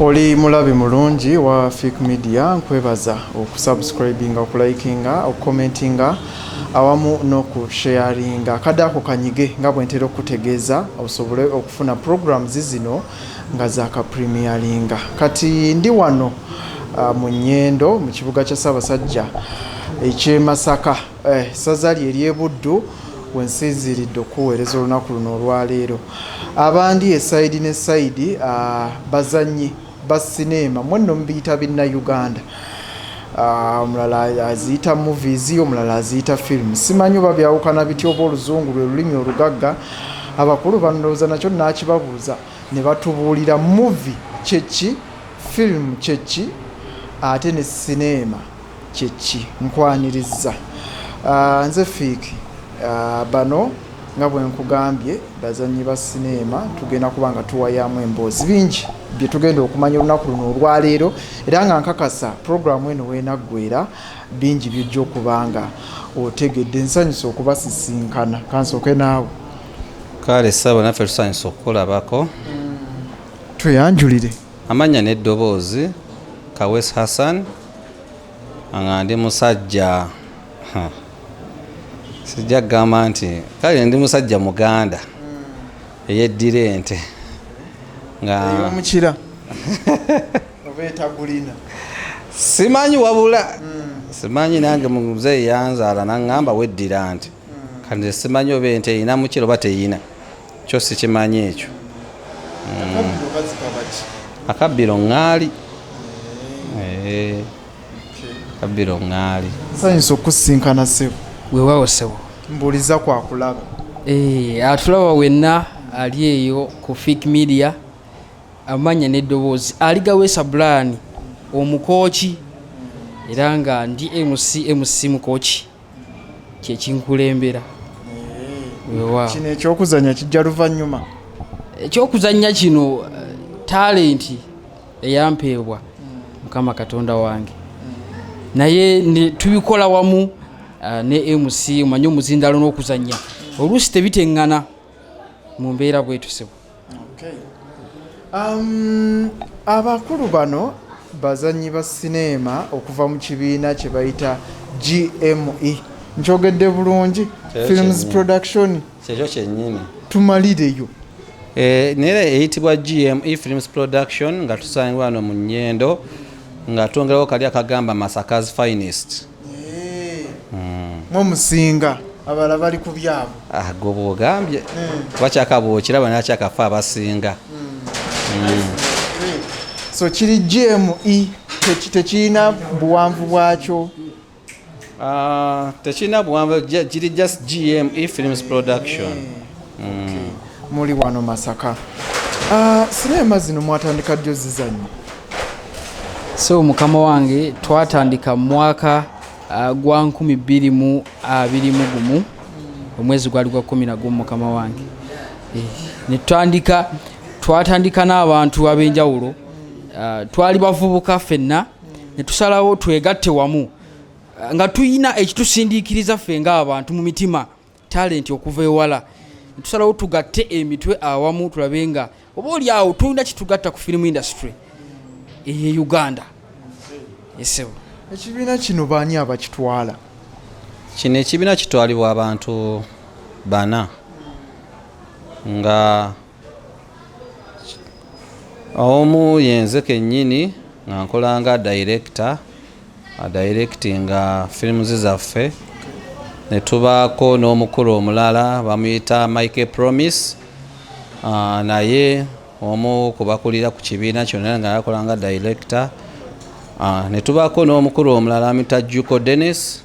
oli mulabi mulungi wa fik media nkwebaza okusubscribinga okulikinga okucommentinga awamu n'okusharinga kadde ako kanyige nga bwentera okukutegeeza osobole okufuna programs zino nga zakapremiaringa kati ndi wano uh, mu nyendo mu kibuga kya ssaabasajja ekyemasaka Eh, ssaza lye ery'e Buddu we nsinziiridde okukuweereza olunaku luno olwaleero. Abandi e sayidi ne sayidi, ah, bazannyi ba sineema, mwe nno mubiyita Binnayuganda. Ah, omulala aziyita movies, omulala aziyita film. Simanyi oba byawukana bitya oba oluzungu lwe lulimi olugagga. Abakulu bandowoza nakyo naakibabuuza ne batubuulira movie kye ki, film kye ki ate ne sineema. Kyeki nkwanirizza nze fiiki. Bano nga bwenkugambye bazannyi ba sineema tugenda kuba nga tuwayaamu emboozi bingi bye tugenda okumanya olunaku luno olwaleero era nga nkakasa pulogulaamu eno weenaggwera bingi byojja okuba nga otegedde nsanyusa okubasisinkana kansooke naawe kale saba naffe tusanyusa okukulabako tweyanjulire amannya n'eddoboozi kawes hassan nga ndi musajja huh. sijja kugamba nti kale ndi musajja muganda hmm. eyeddira ente ngaomukira obaetagulina simanyi wabula hmm. simanyi nange muzeeyi yanzaala naŋŋamba weddira nti hmm. kandi simanyi oba ente erina mukira oba teyina kyo sikimanyi ekyo mm. akabbiro ŋŋaali eh, akabbiro ŋŋaali sayinza okusinkana sebo wewawo sebo mbuuliza kwakulaba eh, atulaba wenna ali eyo ku fik media amanya n'eddoboozi aligaweesa bulaani omukooki era nga ndi mc mc mukooki kyekinkulembera wewa kino ekyokuzanya kijja luvannyuma ekyokuzanya kino eh, talenti eyampeebwa mukama katonda wange naye ne- tubikola wamu ah, ne mc omanye omuzindalo n'okuzanya oluusi tebiteŋŋana mu mbeera bwetusebo Okay. Um, abakulu bano bazanyi ba sineema okuva mu kibiina kye bayita GME nkyogedde bulungi films production kyekyo kyenyini tumalireyo eh, nera eyitibwa GME films production nga tusangibwa wano mu nyendo nga twongerawo kali akagamba masaka's finest mwe musinga abala bali ku byabo ah, gwe bwogambye hmm. bakyakabuukira bana akyakafa abasinga hmm. Hmm. so kiri gme tekirina buwanvu bwakyo ah, tekirina buwanvu kiri just gme films production mm. muli wano masaka ah, sinema zino mwatandika jjo zizanyo so mukama wange twatandika mu mwaka ah, gwa 221 mu gumu omwezi gwali gwa kumi nagumu mukama wange eh, netutandika twatandika n'abantu ab'enjawulo ah, twali bavubuka fenna netusalawo twegatte wamu nga tuyina ekitusindiikiriza ffe ng'abantu mu mitima talenti okuva ewala tusalawo tugatte emitwe awamu tulabe nga oba oli awo tulina kitugatta ku firimu industry eye uganda esebo ekibiina kino baani abakitwala kino ekibiina kitwalibwa abantu bana nga omu yenze kennyini nga nkola nga director adirectinga films zaffe ne tubaako n'omukulu omulala bamuyita mike promise ah, naye omu kubakulira ku kibiina kyonna nga yakola nga director ah, ne tubaako n'omukulu omulala amuyita juko dennis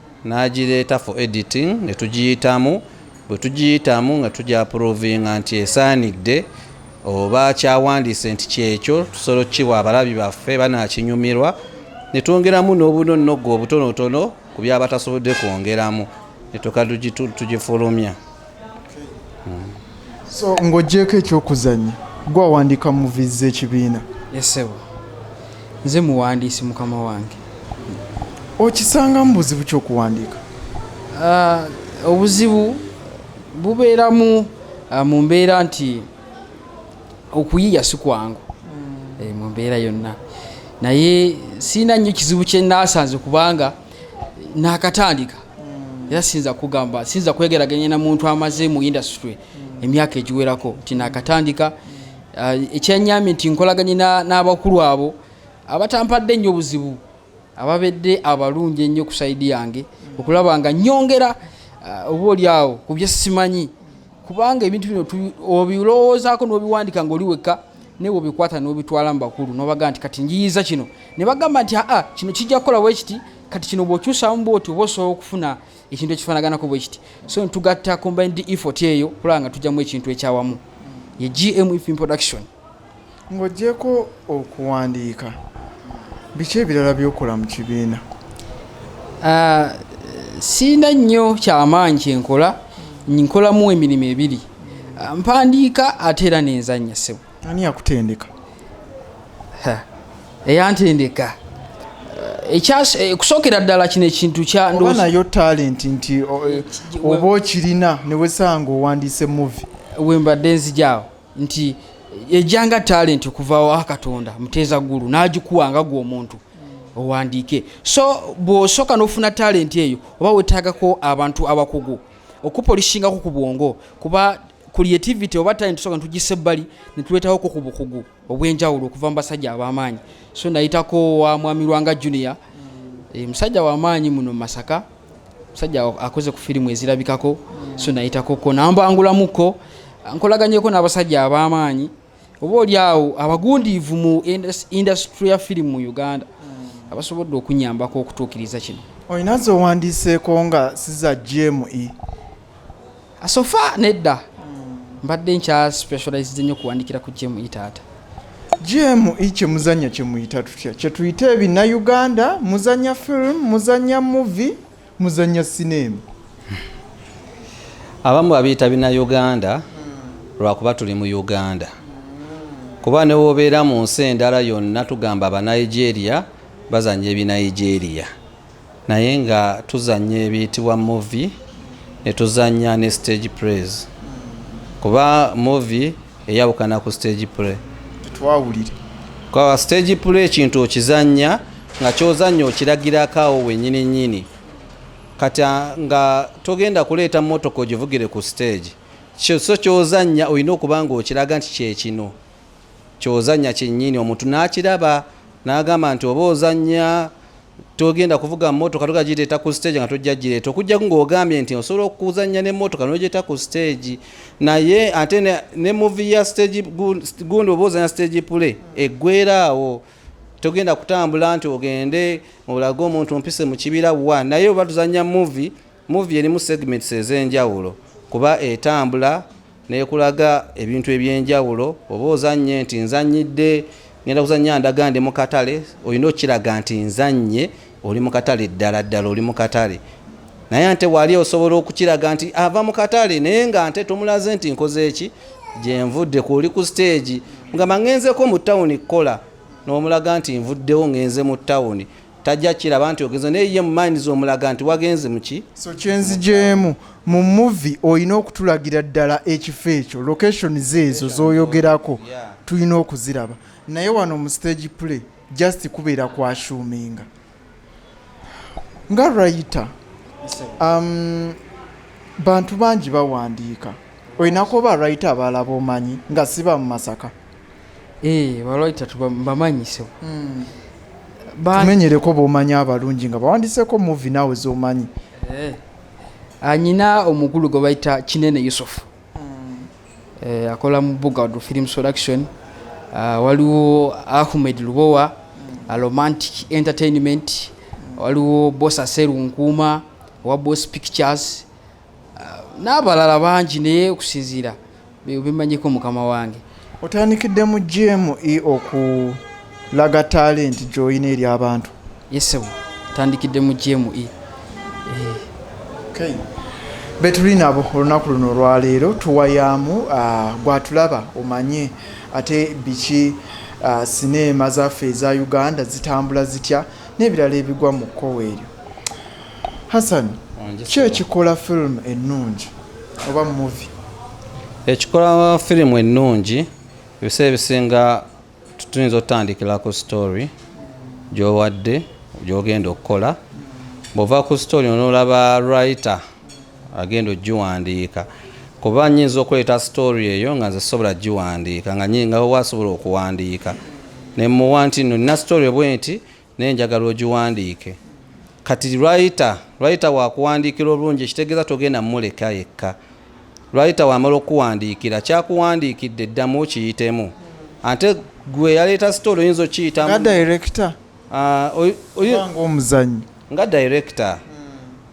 n'agireeta for editing ne tugiyitamu bwe tugiyitamu nga tugyapuruvinga nti esaanidde oba kyawandiise nti kyekyo tusobola okukiwa abalabi baffe banakinyumirwa ne twongeramu n'obunonnogo obutonotono ku byaba tasobodde kwongeramu ne tuka tugifulumya so ng'ogyeko ekyokuzanya gwawandika muvi z'ekibiina esebo nze muwandiisi mukama wange okisangamu buzibu kyokuwandiika ah, obuzibu bubeeramu ah, mu mbeera nti okuyiya si kwangu mm. eh, mu mbeera yonna naye siina nnyo kizibu kyenasanze kubanga nakatandika hmm. era siyinza kugamba siyinza kwegeraganya na muntu amaze mu industry hmm. emyaka egiwerako nti nakatandika hmm. uh, ekyenyamye nti nkolaganye n'abakulu abo abatampadde nnyo obuzibu ababedde abalungi ennyo ku saidi yange okulaba nga nyongera uh, oba oli awo ku byesimanyi kubanga ebintu bino obilowoozaako n'obiwandika ng'oli wekka naye obikwata n'obitwala mu bakulu n'obaga nti kati njiyiza kino ne bagamba nti aa kino kijja kukola wekiti kati kino bw'okyusaamu bwoti oba osobola okufuna ekintu ekifaanaganako bwekiti so ntugatta combined effort eyo kulaba nga tujjamu ekintu ekyawamu ye gm ifin production Ng'ogyeko okuwandiika, biki ebirala by'okola mu kibiina? Ah, sirina nnyo kyamaanyi kye nkola, nkolamu emirimu ebiri. Ah, mpandiika ate era nenzannya ssebo. Ani yakutendeka? Eyantendeka eh, eh, kusookera ddala kino ekintu kyoba nayo talenti nti eh, oba okirina newesanga owandiise muvi wembadde nzijaawo nti ejanga talenti okuva wa katonda muteeza ggulu n'agikuwa nga gwe omuntu owandiike so bw'osooka n'ofuna talenti eyo oba weetaagako abantu abakugu okupolisingako ku bwongo kuba creativity oba talenti soka ntugisa ebbali netuleetawoko ku bukugu obw'enjawulo okuva mu basajja ab'amaanyi so nayitako wa mwami lwanga junior eh, musajja w'amaanyi muno mu masaka musajja akoze ku firimu ezirabikako so nayitakoko nambangulamuko nkolaganyeko n'abasajja ab'amaanyi oba oli awo abagundiivu mu indasitule ya firimu mu uganda hmm. abasobodde okunyambako okutuukiriza kino olina zowandiiseeko nga siza gme asofa nedda hmm. mbadde nkya specialized nnyo kuwandikira ku jemu itaata jemu i kyemuzanya kyemuyita tutya kyetuyita ebina uganda muzanya film muzanya movie muzanya sineema abamu babiyita bina uganda hmm. lwakuba tuli mu uganda hmm. kuba newobeera mu nsi endala yonna tugamba abanigeria bazanya ebinigeria naye nga tuzanya ebiyitibwa movie netuzanya ne stage prays kuba movie eyawukana ku stage play twawulire kwa stage play ekintu okizanya nga kyozanya okiragirako awo wenyini nyini kati nga togenda kuleeta motoka ogivugire ku stage so kyozanya olina okuba nga okiraga nti kyekino kyozanya kyenyini omuntu nakiraba nagamba nti oba ozanya togenda kuvuga mmotoka tugenda gireeta ku stage nga tojja gireeta okujjaku ng'ogambye nti osobola okuzannya n'emmotoka n'ogyeta ku stage naye ate ne muvi ya stage gundi oba ozanya stage pule eggwera awo togenda kutambula nti ogende olage omuntu mpise mu kibira wa naye oba tuzannya muvi Muvi erimu segments ez'enjawulo kuba etambula nekulaga ebintu eby'enjawulo oba ozannye nti nzannyidde ngenda kuzannya ndaga ndi mu katale olina okukiraga nti nzannye oli mu katale ddala ddala oli mu katale naye ante wali osobola okukiraga nti ava mu katale naye nga nte tomulaze nti nkoze eki gyenvudde ku oli ku siteegi nga mangenzeko mu tawuni kukola n'omulaga nti nvuddewo ngenze mu tawuni tajja kiraba nti ogenze naye ye mumaini zomulaga nti wagenze muki so kyenzijemu mu muvi olina okutulagira ddala ekifo ekyo location zeezo zoyogerako tulina okuziraba naye wano mu stage play just kubeera kwashuminga nga rayita um, bantu bangi bawandiika olinaku oba rayita abalaba omanyi nga siba mu masaka Eh, baloita tubamanyise hmm. tumenyereko bomanyi abalungi nga bawandiseko muvi naawe zomanyi eh. anyina ah, omukulu gwe bayita kinene yusufu hmm. eh, akola mu bugad film production ah, waliwo ahmed lubowa hmm. ah, romantic entertainment waliwo bosa serunkuuma owa bos pictures n'abalala bangi naye okusinziira bimanyiko mukama wange otandikidde mu gme okulaga talenti gyolina eri abantu yesebo tandikidde mu gme eh. betuli nabo olunaku luno olwaleero tuwayaamu ah, gwatulaba omanye ate biki ah, sineema zaffe eza uganda zitambula zitya n'ebirala ebigwa mu kkowa eryo Hassan, ki ekikola firimu ennungi oba muvi? Ekikola firimu ennungi ebiseera ebisinga tuyinza otutandikira ku sitori gyowadde gyogenda okukola bwova ku sitori onolaba write agenda ogiwandiika kuba nyinza okuleeta sitori eyo nga nze sobola giwandiika nga nyinga wasobola okuwandiika nemuwa nti no nina sitori bwenti Naye njagala ogiwandiike. Kati writer, writer wakuwandiikira obulungi ekitegeeza togenda muleka yekka. Writer wamala okukuwandiikira, kyakuwandiikidde ddamu okiyitemu. Ante gwe eyaleeta story oyinza okiyitamu. Nga director? Ah, oy, oy, Oba ng'omuzannyi? nga director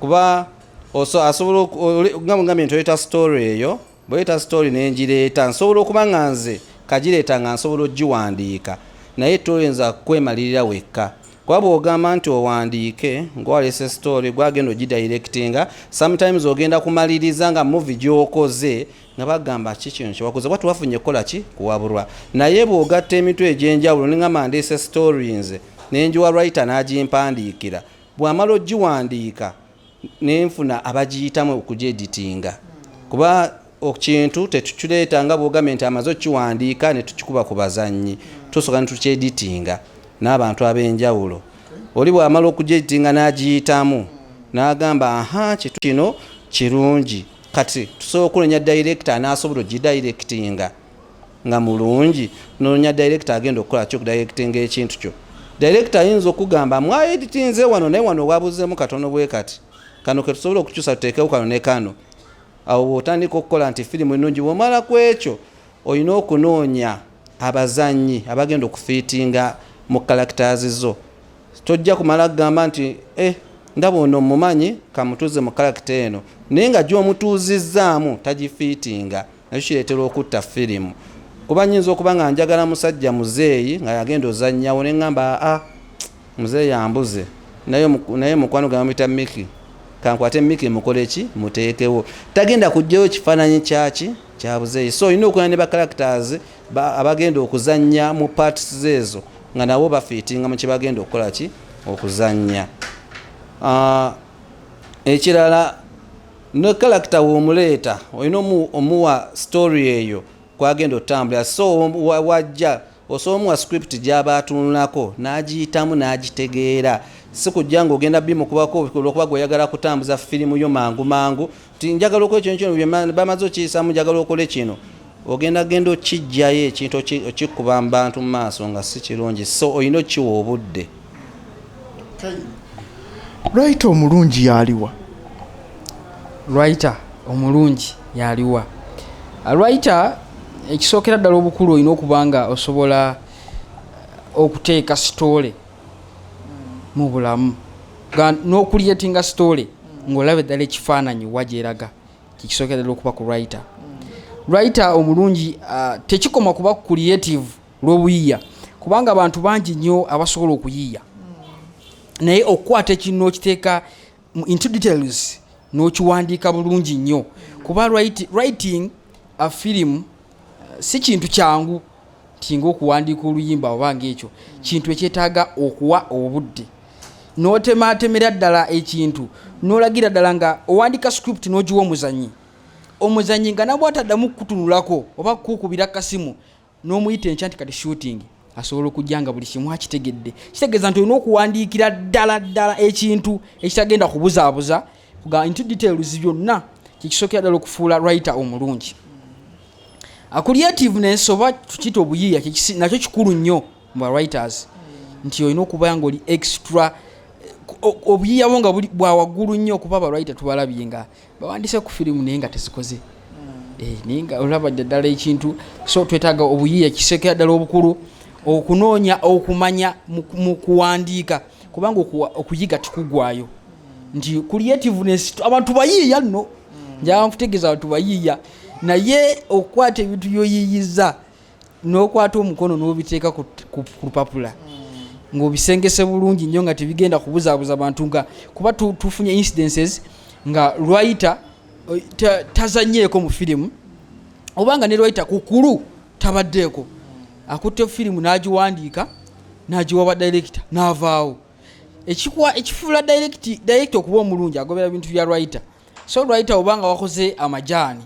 kuba oso- asobola oku- oli- nga nga bintu oyita story eyo bweyita story nenjireeta nsobola okuba nga nze kajireeta nga nsobola ogiwandiika naye toyinza kwemalirira wekka kuba bwogamba nti owandiike ngwalese story gwagenda ogidirectinga sometimes ogenda kumaliriza nga muvi gyokoze nga bagamba ki kino kyewakoze kuba tewafunye kukola ki kuwaburwa naye bwogatta emitwe egyenjawulo ningamba ndeese story nze nenjiwa writer nagimpandiikira bwamala ogiwandiika nenfuna abagiyitamu okugyeditinga kuba kintu tetukireeta nga bwogambe nti amaze okukiwandiika netukikuba ku bazannyi tusooka netukyeditinga n'abantu ab'enjawulo oli bwamala okugyeditinga n'agiyitamu n'agamba aha kitu kino kirungi kati tusobola okunenya dayirekita anaasobola ogidayirekitinga nga mulungi nonya director agenda okukola kyo kudirectinga ekintu kyo director ayinza okugamba mwaeditinze wano naye wano wabuzeemu katono bwe kati kano ketusobola okukyusa tuteekewo kano ne kano awo bwotandika okukola nti firimu ennungi bwomala ku ekyo olina okunoonya abazannyi abagenda okufiitinga mu characters zo tojja kumala kugamba nti eh, ndaba ono mumanyi kamutuuze mu character eno naye nga gyomutuuzizzaamu tagifiitinga nakyo kireetera okutta firimu kuba nyinza okuba nga njagala musajja muzeeyi nga yagenda ozannyawo ne ŋŋamba aa muzeeyi ambuze naye mukwano gwe bamuyita miki kankwate miki mukole ki muteekewo tagenda kugjayo kifaananyi kyaki kyabuzeeyi so olina okulana ne bacharacters abagenda okuzannya mu parts zeezo nga nabo bafiitinga mu kyebagenda okukola ki okuzannya ah, ekirala ne kalakita womuleeta olina omuwa story eyo kwagenda otambulira so wajja osobola omuwa script gyaba atunulako n'agiyitamu n'agitegeera si kujja ng'ogenda bimukubako olwokuba gweoyagala kutambuza firimu yo mangu mangu ti njagala okola ekintu kino bamaze okiyisamu njagala okole kino ogenda genda okijjayo ekintu okikuba mu bantu mu maaso nga si kirungi so olina okiwa obudde lwaita omulungi yaliwa lwaita omulungi yaliwa lwaita ekisookera ddala obukulu olina okuba nga osobola okuteeka sitoole mu bulamu n'okuliyetinga sitoole ng'olaba eddala ekifaananyi wa gyeraga kyekisookera ddala okuba ku lwaita lwaita omulungi tekikoma kuba creative lw'obuyiiya kubanga abantu bangi nnyo abasobola okuyiiya hmm. naye okukwata ekintu n'okiteeka mu into details n'okiwandiika bulungi nnyo kuba writing a film uh, si kintu kyangu tinga okuwandiika oluyimba oba ngaekyo kintu ekyetaaga okuwa obudde n'otematemera ddala ekintu n'olagira ddala nga owandiika script n'ogiwa omuzanyi omuzanyi nga nabwataddamu kukutunulako oba kukubira kasimu n'omuyita enkya nti kati shooting asobola okujja nga buli kimu akitegedde kitegeeza nti olina okuwandiikira ddala ddala ekintu ekitagenda kubuzaabuza nti details byonna kyekisookera ddala okufuula writer omulungi akuliative nensoba tukiyita obuyiiya nakyo kikulu nnyo mu ba writers nti olina okuba nga oli extra obuyiyawo nga bwawaggulu nnyo okuba abalwayi tetubalabye nga bawandise ku firimu naye nga tezikoze hmm. eh, naye nga olaba ddala ekintu so twetaaga obuyiiya kisekera ddala obukulu okunoonya okumanya mu kuwandiika kubanga okuyiga tikugwayo nti creativeness abantu bayiiya nno hmm. njaba nkutegeeza abantu bayiiya naye okukwata ebintu byoyiiyiza n'okwata omukono n'obiteeka ku lupapula hmm. ng'obisengese bulungi nnyo nga tebigenda kubuzaabuza bantu nga kuba tufunye incidences nga lwayita eh, tazanyeeko mu firimu oba nga ne lwayita kukulu tabaddeeko akutte firimu n'agiwandiika n'agiwa ba dayirekita n'avaawo ekifuula dayirekita okuba omulungi agobera bintu bya lwayita so lwayita oba nga wakoze amajaani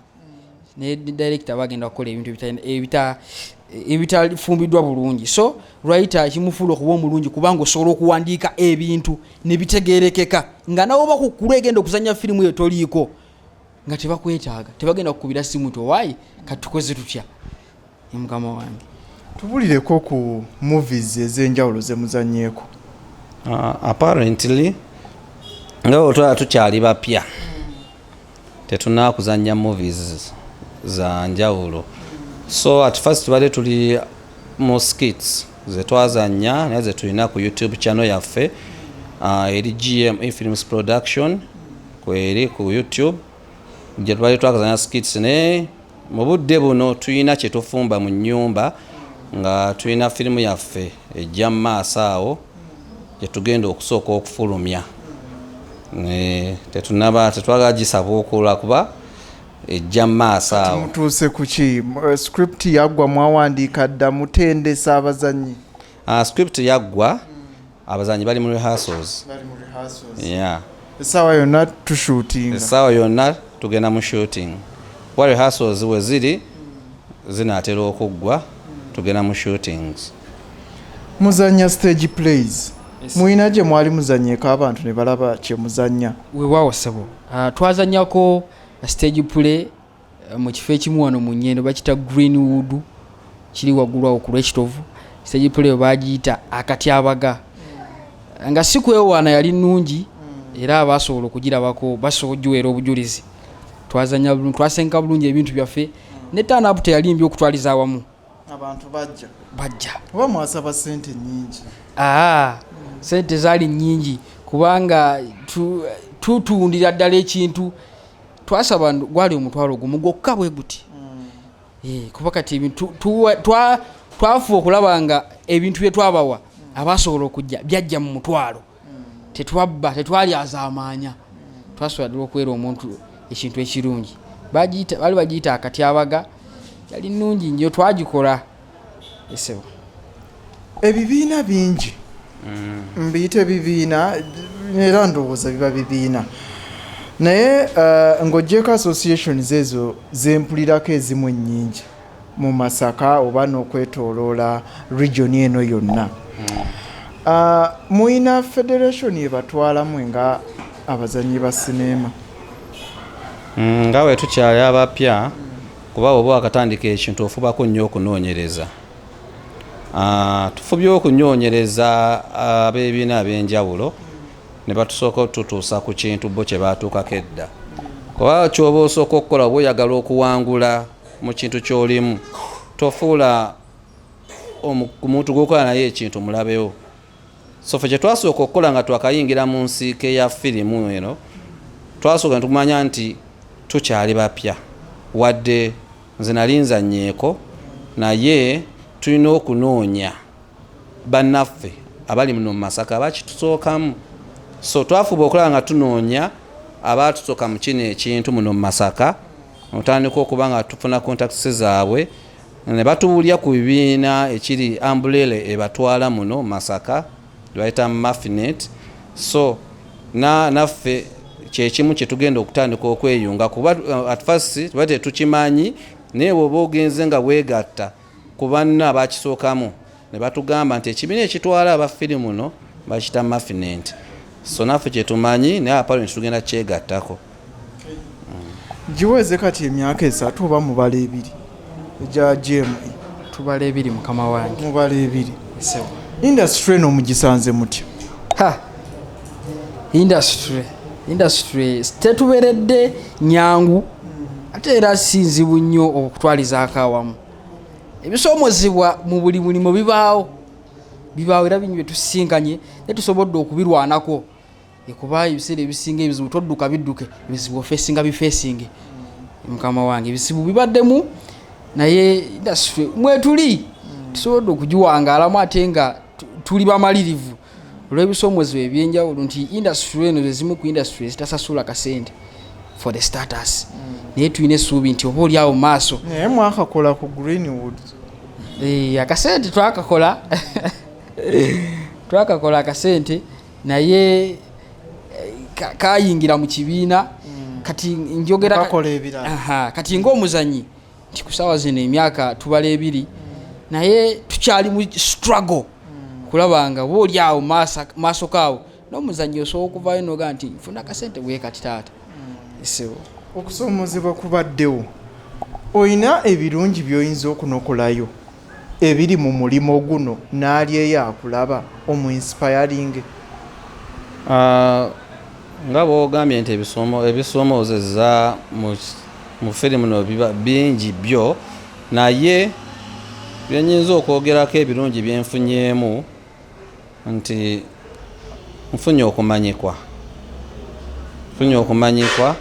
ne director bagenda kukola ebintu ebita ebitafumbiddwa bulungi so lwayita kimufuula okuba omulungi kubanga osobola okuwandiika ebintu nebitegerekeka nga nawe oba kukkulu egenda okuzanya firimu eyo toliiko nga tebakwetaaga tebagenda kukubira simu ti owaayi katukoze tutya mukama wange tubulireko ku movies ez'enjawulo zemuzanyeeko uh, apparently nga otwala tukyali bapya tetunakuzanya movies za njawulo so at first tubadde tuli mu skits zetwazanya naye zetulina ku youtube channel yaffe uh, eri gme films production kweri ku youtube gye twali twakazanya skits naye mu budde buno tulina kye tufumba mu nnyumba nga tulina firimu yaffe ejja mu maaso awo gye tugenda okusooka okufulumya tetunaba tetwagala gisabuukula kuba ejja mu maaso awo mutuuse ku ki eh, script yaggwa mwawandiika dda mutendesa abazannyi ah, script yaggwa mm. abazanyi bali mu rehearsals bali mu rehearsals yeah esawa yonna tu shooting esawa yonna tugenda mu shooting wa rehearsals we ziri zinatera okuggwa tugenda mu shootings muzanya stage plays mulina gye mwali muzanyeko abantu ne balaba kye muzanya wewawo sebo uh, ah, twazanyako stage play mu kifo ekimu wano mu nyendo bakita greenwood kiri waggulu awo ku lwekitovu stage play bagiyita akatyabaga nga si kwewaana yali nnungi era abaasobola okugirabako basobola ogiweera obujulizi twazanya bulungi twasenka bulungi ebintu byaffe ne tanapu teyali mbi okutwaliza awamu abantu bajja bajja oba mwasaba sente nyingi aa sente zaali nyingi kubanga tutundira ddala ekintu twasaba gwali omutwalo gumu gwokka bwe guti mm. eh, kuba kati twafuba okulaba nga ebintu bye twabawa mm. abasobola okujja byajja mu mutwalo mm. tetwabba tetwali azaamaanya twasobola dula okubeera omuntu ekintu ekirungi baali bagiyita akatyabaga yali nnungi nyo twagikola ebibiina bingi mm. mbiyita ebibiina era ndowooza biba bibiina naye eh, ng'ogyeko associations ezo zempulirako ezimu ennyingi mu masaka oba n'okwetoloola region eno yonna mm. eh, muyina federation ebatwalamu nga abazanyi ba sineema mm, nga wetukyali abapya kuba bwoba wakatandika ekintu ofubako nnyo okunoonyereza ah, tufubye okunyoonyereza ah, abebiina ab'enjawulo ne batusooka otutuusa ku kintu bo kye baatuukako edda kuba kyoba osooka okukola oba oyagala okuwangula mu kintu ky'olimu tofuula omuntu gwokola naye ekintu mulabewo so fe kyetwasooka okukola nga twakayingira mu nsiike ya firimu eno twasooka netumanya nti tukyali bapya wadde nze nali nzanyeeko naye tulina okunoonya bannaffe abali muno mu masaka bakitusookamu so twafuba okulaba nga tunoonya abaatusoka mu kino ekintu muno mu masaka otandika okuba nga tufuna kontakisi zaabwe ne batubulya ku bibiina ekiri ambulele ebatwala muno masaka bayita mafinet so naffe kyekimu kyetugenda okutandika okweyunga kuba uh, at first tuba tetukimanyi naye woba ogenze nga wegatta ku banna bakisookamu ne batugamba nti ekibiina ekitwala aba firimu muno bakita mafinenti so naffe kyetumanyi naye apalo netugenda kyegattako giweze kati emyaka esatu oba mubala ebiri egya gma tubala ebiri mukama wange mubala ebiri industry eno mugisanze mutya industry industry tetuberedde nyangu ate era sinzibu nnyo okutwalizaako awamu ebisoomozebwa mu buli mulimu bibaawo bibaawo era bingi byetusisinkanye naye tusobodde okubirwanako ekuba ebiseera ebisinga ebizibu todduka bidduke ebizibu ofeesinga bifeesinge mukama wange ebizibu bibaddemu naye indasitry mwetuli tusobodde okugiwangaalamu ate nga tuli bamalirivu olw'ebisoomoozebwa ebyenjawulo nti indasitule eno zezimu ku indasitule ezitasasula kasente for the status hmm. naye tulina essuubi nti oba oliawo maaso naye mwakakola ku greenwood eh, akasente twakakola twakakola akasente naye eh, kayingira mu kibiina hmm. kati njogera kati ng'omuzanyi nti ku saawa zino emyaka tubala ebiri naye tukyali mu struggle kulaba nga booli awo maaso kaawo n'omuzannyi osobola okuvayo noga nti nfuna akasente bwekati taata esibo okusoomoozebwa kubaddewo olina ebirungi by'oyinza okunokolayo ebiri mu mulimo guno naali eyo akulaba omu inspiring. Ahh nga bwogambye nti ebisomozeza mu film no biba bingi byo naye byenyinza okwogerako ebirungi byenfunyemu. nti nfunye okumanyikwa nfunye okumanyikwa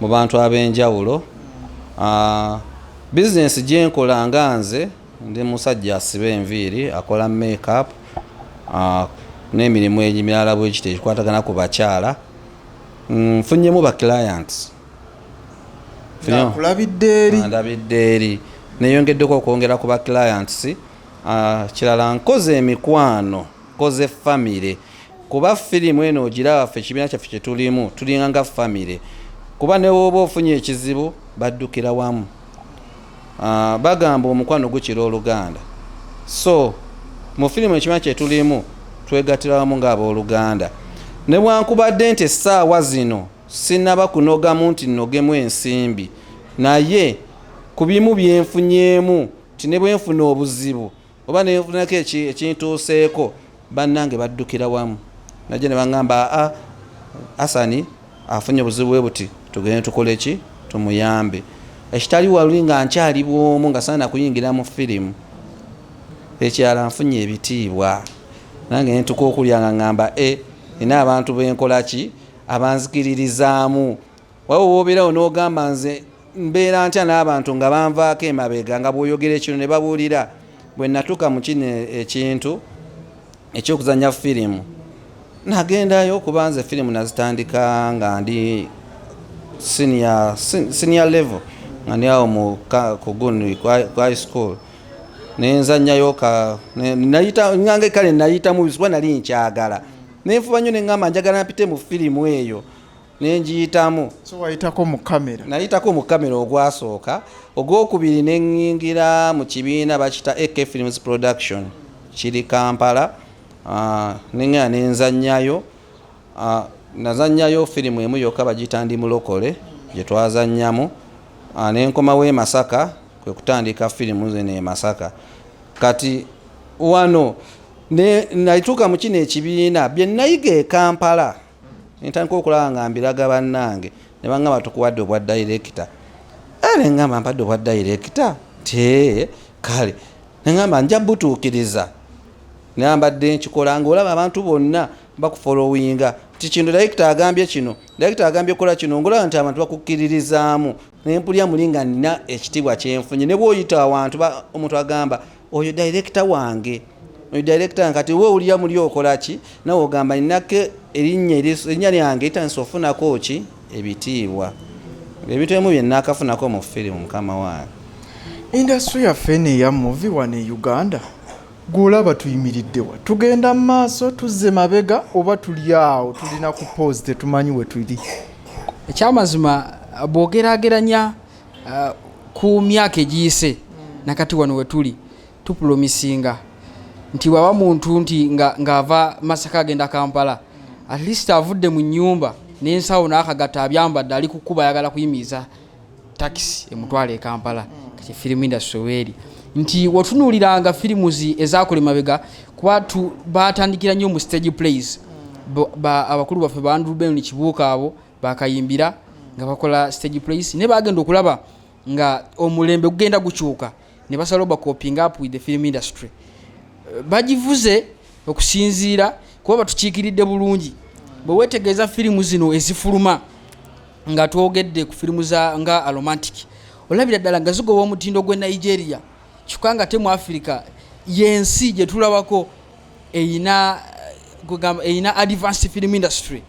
mu bantu ab'enjawulo ah, bizinesi gyenkola nga nze ndi musajja asiba enviiri akola makeup ah, n'emirimu emirala bwekiti egikwatagana ku bakyala mm, nfunyemu ba clients kulabidde eri neyongeddeko okwongera ku ba clients Ah, kirala nkoze emikwano nkoze famire kuba firimu eno ogiraba ffe ekibiina kyaffe kyetulimu tulinga nga famire kuba newooba ofunye ekizibu baddukira wamu ah, bagamba omukwano gukira oluganda so mu firimu ekibiina kyetulimu twegatira wamu ngaabooluganda nebwankubadde nti essaawa zino sinaba kunogamu nti nogemu ensimbi naye ku bimu byenfunyeemu ti ne bwe nfuna obuzibu oba ne nfunako ekintuuseeko bannange baddukira wamu najja ne baŋŋamba aa asani afunye obuzibu bwe buti tugende tukole ki tumuyambe ekitali waluli nga nkyali bwomu nga saana kuyingira mu firimu ekyala nfunye ebitiibwa nange nentuka okulya nga ŋŋamba e eh, nina abantu benkolaki abanzikiririzaamu Waba wobeerawo n'ogamba nze mbeera ntya n'abantu nga banvaako emabega nga bw'oyogera ekino ne babuulira bwe natuuka mu kino ekintu eky'okuzannya firimu nagendayo kuba nze firimu nazitandika nga ndi senior, senior level nga ndi awo mu kuguni ku high school nenzanyayo nange kale nayitamu kuba nali nkyagala nenfuba nnyo neŋamba njagala mpite mu firimu eyo nenjiyitamu so wayitako mu kamera nayitako mu kamera ogwasooka ogwokubiri neŋingira mu kibiina bakita ak films production kiri kampala ah, neŋaa nenzanyayo ah, nazanyayo firimu emu yokka bagiyita ndi mulokole gye twazanyamu ah, nenkomawo e masaka kwe kutandika firimu zino e masaka kati wano nayituuka mu kino ekibiina bye nayiga e kampala ntandika okulaba nga mbiraga bannange ne bangamba tukuwadde obwa dayirekita eh, ne ngamba mpadde obwa dayirekita te kale ne ngamba nja butuukiriza nambadde nkikola ngaolaba abantu bonna bakufolowinga nti kino dayirekita agambye kino dayirekita agambye kola kino ngaolaba nti abantu bakukkiririzaamu nempulira muli nga nina ekitiibwa kyenfunye ne bwoyita awantu omuntu agamba oyo direkita wange oyo direkita wange kati we owulira muli okolaki nawe ogamba ninako erinnya erinnya lyange itandisa ofunako ki ebitiibwa ebintu emu byenakafunako mu firimu mukama wange indasitry yaffe eno eya muvi wano e uganda Gwe olaba tuyimiridde wa? Tugenda mu maaso, tuzze mabega oba tuli awo tulina ku poozi tetumanyi we tuli? Ekyamazima bw'ogeraageranya uh, ku myaka egiyise na kati wano we tuli tupulomisinga nti bwaba muntu nti ng'ava nga Masaka agenda Kampala at least avudde mu nnyumba n'ensawo n'akagatta abyambadde ali ku kkuba ayagala kuyimiriza takisi emutwala e kampala kati firimu industry weeri nti wotunuuliranga firimu zi ezakola emabega kuba baatandikira nnyo mu stage plays abakulu baffe ba andrew ben kibuuka abo bakayimbira nga bakola stage plays naye bagenda okulaba nga omulembe gugenda gukyuka ne basala obacoping up with the film industry bagivuze okusinziira kuba batukiikiridde bulungi bwe wetegeeza firimu zino ezifuluma nga twogedde ku firimu za nga aromantic olabira ddala nga zigoba omutindo gw'e nigeria kyokka nga te mu afirika yensi gye tulabako eyina eyina advanced film industry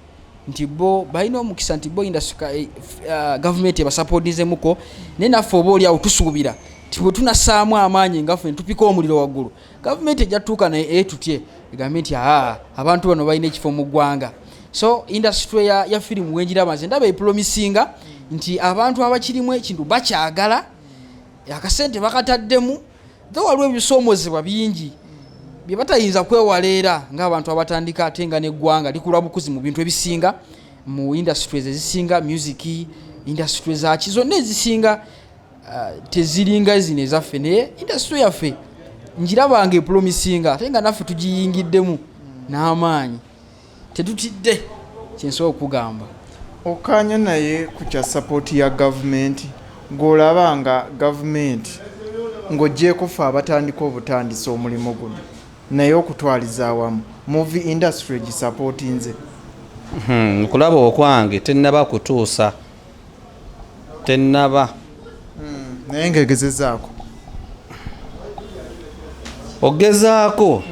nti bo balina omukisa nti bo industry eh, eh, gavumenti ebasapotizemuko naye naffe oba oliawo tusuubira nti bwe tunasaamu amaanyi ngaffe netupika omuliro waggulu gavumenti ejja tutuuka naye eh, tutye egambye nti aa abantu bano balina ekifo mu ggwanga so industry ya, ya firimu wenjiraba nze ndaba epulomisinga nti abantu abakirimu ekintu bakyagala akasente bakataddemu the waliwo ebisoomozebwa bingi bye batayinza kwewala era ng'abantu abatandika ate nga n'eggwanga likula bukuzi mu bintu ebisinga mu industries ezisinga music industry zaki zonna ezisinga ah, teziringa zino ezaffe naye indasitule yaffe ngirabanga epulomisinga ate nga naffe tugiyingiddemu n'amaanyi tetutidde kyensobola okukugamba okkaanya naye ku kya sapooti ya gavumenti ng'olaba nga gavumenti ng'ogyeko fe abatandika obutandisa omulimu guno naye okutwaliza awamu muvi indasitule gisapootinze hmm, okulaba okwange tennaba kutuusa tenaba hmm, naye nga egezezaako ogezaako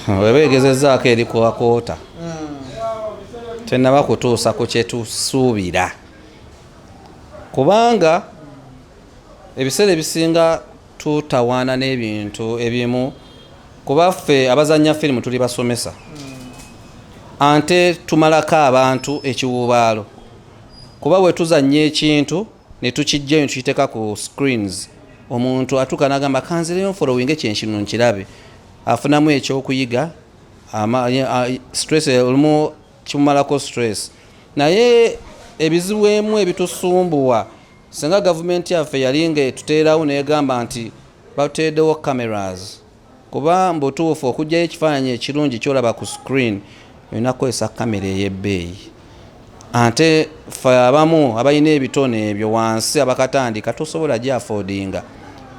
hmm. weba egezezaako eri kuwakoota hmm. tenaba kutuusa ku kyetusuubira kubanga ebiseera ebisinga tutawaana n'ebintu ebimu kuba ffe abazannya firimu tuli basomesa ante tumalako abantu ekiwuubaalo kuba bwe tuzannya ekintu ne tukijja ne tukiteeka ku screens omuntu atuuka n'agamba kanzireyo nfolowinge kyenkino nkirabe afunamu ekyokuyiga stress olumu kimumalako stress naye ebizibu emu ebitusumbuwa Singa gavumenti yaffe yali ng'etuteerawo n'egamba nti batuteereddewo cameras kuba mbutuufu okugyayo ekifaananyi ekirungi kyolaba ku screen olina kukozesa kamera ey'ebbeeyi ate fe abamu abalina ebitone ebyo wansi abakatandika tosobola gyafodinga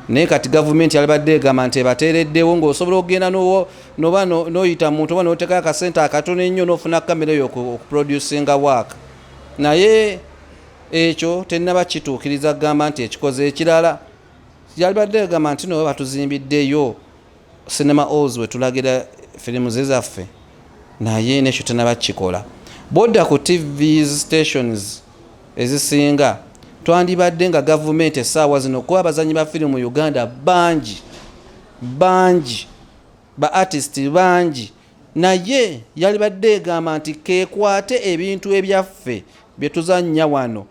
naye kati gavumenti yalibadde egamba nti ebateereddewo ng'osobola okugenda noba noyita muntu oba notekayo akasente akatono ennyo nofuna kamera eyo okuproducinga waaka naye ekyo tennaba kituukiriza kugamba nti ekikoze ekirala yalibadde egamba nti no batuzimbiddeyo cinema alls wetulagira firimu ze zaffe naye nekyo tennaba kukikola bwodda ku tv stations ezisinga twandibadde nga gavumenti essaawa zino kuba abazanyi ba firimu mu uganda bangi bangi ba artist bangi naye yalibadde egamba nti kekwate ebintu ebyaffe byetuzannya wano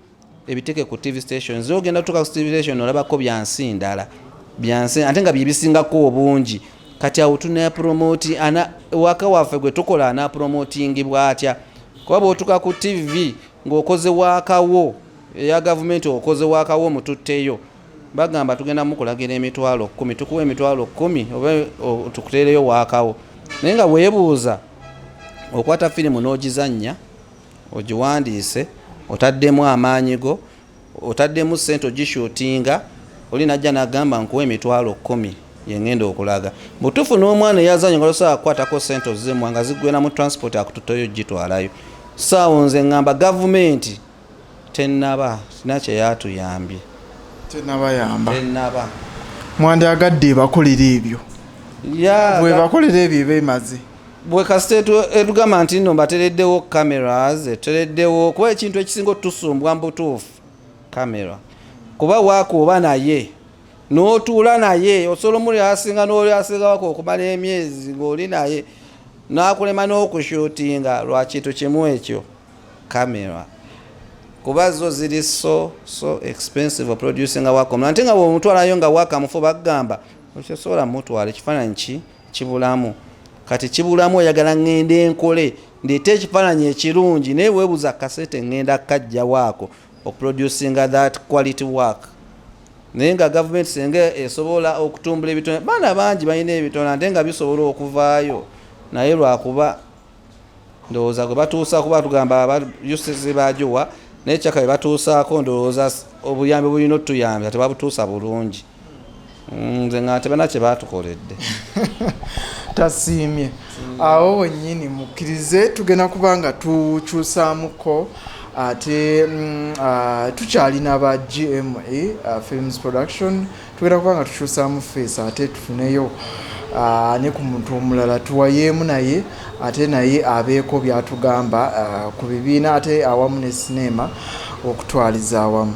ebiteke ku tv station zogenda tuka ku tv station olabako byansi ndala byansi ate nga byebisingako obungi kati awo tunapromoti ana waka waffe gwe tukola anapromotingibwa atya kuba bwotuka ku tv ngaokoze wakawo eya gavumenti okoze wakawo mututteyo bagamba tugenda mukulagira emitwalo kumi tukuwa emitwalo kumi oba tukuteereyo waakawo naye nga weebuuza okwata firimu n'ogizannya ogiwandiise otaddemu amaanyi go otaddemu sente ogishutinga oli najja nagamba nkuwa emitwalo kumi yengenda okulaga butufu n'omwana eyazanyo nga tosobola kukwatako sente ozimwa nga ziggweramu transport akututoyo gitwalayo saawo nze ngamba gavumenti Tennaba sina kye yatuyambye. Tennabayamba. Tennaba. Mwandyagadde ebakolera ebyo. Yeah, Bwe bakolera ebyo eba emaze. bwe kasita etu- etugamba nti nno batereddewo cameras etutereddewo kuba ekintu ekisinga otusumbwa mu butuufu camera kuba wakuoba naye n'otuula naye osobola omuli asinga n'oli asingawako okumala emyezi ng'oli naye n'akulema n'okushutinga lwa kintu kimu ekyo camera kuba zo ziri so so expensive oproducinga wakom nante nga bwomutwalayo nga wakamufu bagamba okyosobola mutwala ekifaananyi ki kibulamu kati kibulamu oyagala ŋŋenda enkole ndeeta ekifaananyi ekirungi naye weebuza kasete ŋŋenda kajjawaako oproducinga that quality work naye nga gavumenti senga esobola okutumbula ebitone baana bangi balina ebitone ate nga bisobola okuvaayo naye lwakuba ndowooza gwe batuusa kuba tugamba aba ucc bagiwa naye caka bebatuusaako ndowooza obuyambi obulina otuyambya tebabutuusa bulungi mm, nze nga tebana kye batukoledde tasiimye awo wenyini mukkirize tugenda kuba nga tukyusaamuko ate mm, ah, tukyalina ba gma ah, films production Tugenda kuba nga tukyusaamu feesi ate tufuneyo ah, ne ku muntu omulala tuwayeemu naye ate naye abeeko by'atugamba ah, ku bibiina ate awamu ne sineema okutwaliza awamu.